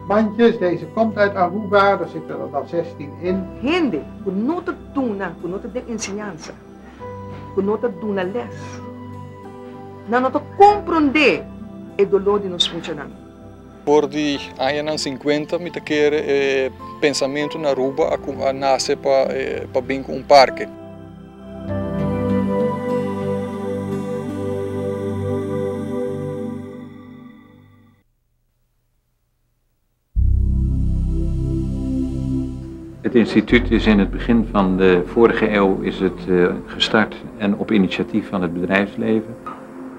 Manches, deze komt uit Aruba, do sete lo da zestien in. Hende ku no ta duna, ku no ta den enseñansa, ku no ta duna lès, nan no ta komprondé e doló di nos muchanan. For di añanan sinkuenta mi ta kere e pensamentu na Aruba a nase pa bin ku un parke. Het instituut is in het begin van de vorige eeuw is het gestart en op initiatief van het bedrijfsleven.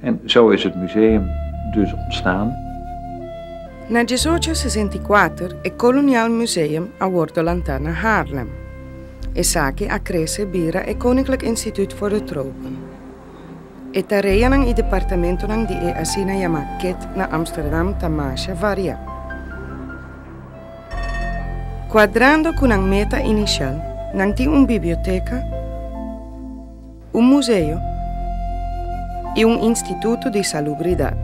En zo is het museum dus ontstaan. Na diesocho sesenta i kuater e Koloniaal Museum a wordo lantá na Haarlem. Esaki a krese bira e Koninklijk Instituut voor de Tropen. E tareanan i departamentonan di e asina yamá ket na Amsterdam ta masha variá. Kuadrando ku nan meta inisial, nan tin un biblioteka, Un museo i un instituto di salubridad.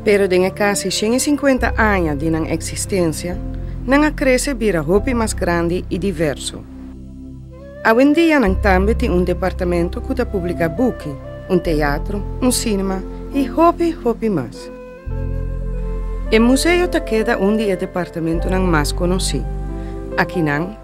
Pero den e casi shen i cincuenta aña di nan existencia, nan a crece bira hopi mas grandi i diverso. Awendia nan tambe tin un departamento cu ta publica buki, un teatro, un cinema i hopi, hopi mas. E museo ta keda un di e departamentonan mas conoci. Aki nan